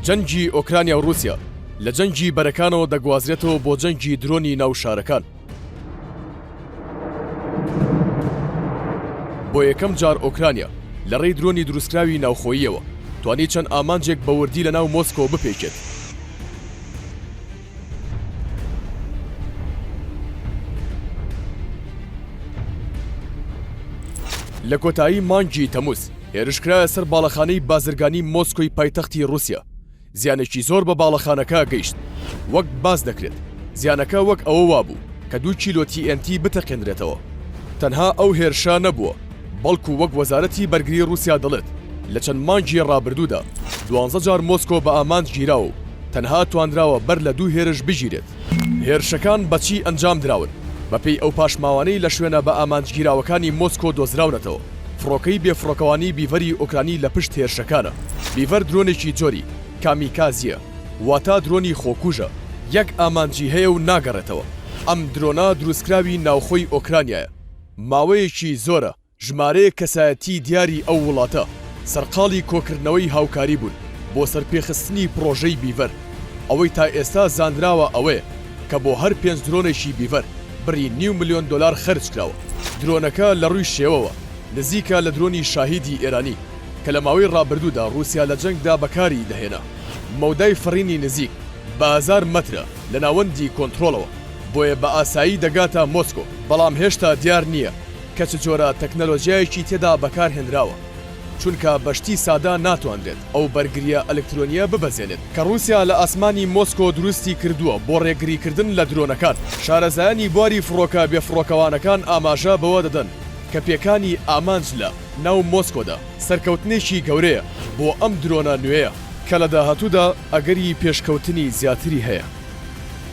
جەنگی ئۆکرانیا و رووسیا لە جەنگی بەرەکانەوە دەگوازرێتەوە بۆ جەنگی درۆنی ناو شارەکان. بۆ یەکەم جار ئۆکرانیا لە ڕێی درۆنی دروستکراوی ناوخۆییەوە توانی چەند ئامانجێک بە وردی لە ناو مۆسکۆ بپێکێت. لە کۆتایی مانگی تەموز هێرشکرایە سەر باڵەخانەی بازرگانی مۆسکۆی پایتەختی رووسیا زیانێکی زۆر بە باڵەخانەکە گەیشت وەک باس دەکرێت زیانەکە وەک ئەوە وابوو کە دوو کیلۆ TNT بتەقێنرێتەوە تەنها ئەو هێرشە نەبووە بەڵکو وەک وەزارەتی بەرگری روسیا دەڵێت، لە چەند مانگی رابردوودا دوانزە جار مۆسکۆ بە ئامانج گیراوە و تەنها توانراوە بەر لە دوو هێرش بگیرێت. هێرشەکان بە چی ئەنجام دراون؟ بە پێی ئەو پاشماوانەی لە شوێنە بە ئامانج گیراوەکانی مۆسکۆ دۆزراونەتەوە، فڕۆکەی بێ فڕۆکەوانی بیڤەری ئۆکرانی لە پشت هێرشەکانە. بیڤەر درۆنێکی جۆری، کامیکازیە، واتە درۆنی خۆکوژە، یەک ئامانجی هەیە و ناگەڕێتەوە. ئەم درۆنە دروستکراوی ناوخۆی ئۆکرانیایە. ماوەیەکی زۆرە ژمارەیەک کەسایەتیی دیاری ئەو وڵاتە سەرقاڵی کۆکردنەوەی هاوکاری بوون بۆ سەرپێخستنی پڕۆژەی بیڤەر، ئەوەی تا ئێستا زانراوە ئەوەیە کە بۆ هەر پێنج درۆنێکی بیڤەر بڕی نیو ملیۆن دۆلار خەرجکراوە. درۆنەکە لە ڕووی شێوەوە نزیکە لە درۆنی شاهیدی ئێرانی کە لە ماوەی ڕابردوودا ڕووسیا لە جەنگدا بەکاری دەهێنا. مەودای فڕینی نزیک بە هەزار مەترە لە ناوەندی کۆنترۆڵەوە. بۆیە بە ئاسایی دەگاتە مۆسکۆ، بەڵام هێشتا دیار نییە کە چ جۆرە تەکنەلۆژیایەکی تێدا بەکار هێنراوە، چونکە بە شتی سادە ناتوانرێت ئەو بەرگرییە ئەلکترۆنییە ببەزێنێت کە ڕووسیا لە ئاسمانی مۆسکۆ دروستی کردووە بۆ ڕێگریکردن لە درۆنەکان. شارەزایانی بواری فڕۆکە بێفڕۆکەوانەکان ئاماژە بەوە دەدەن کە پێکانی ئامانج لە ناو مۆسکۆدا سەرکەوتنێکی گەورەیە بۆ ئەم درۆنە نوێیە، کە لە داهاتوودا ئەگەری پێشکەوتنی زیاتری هەیە.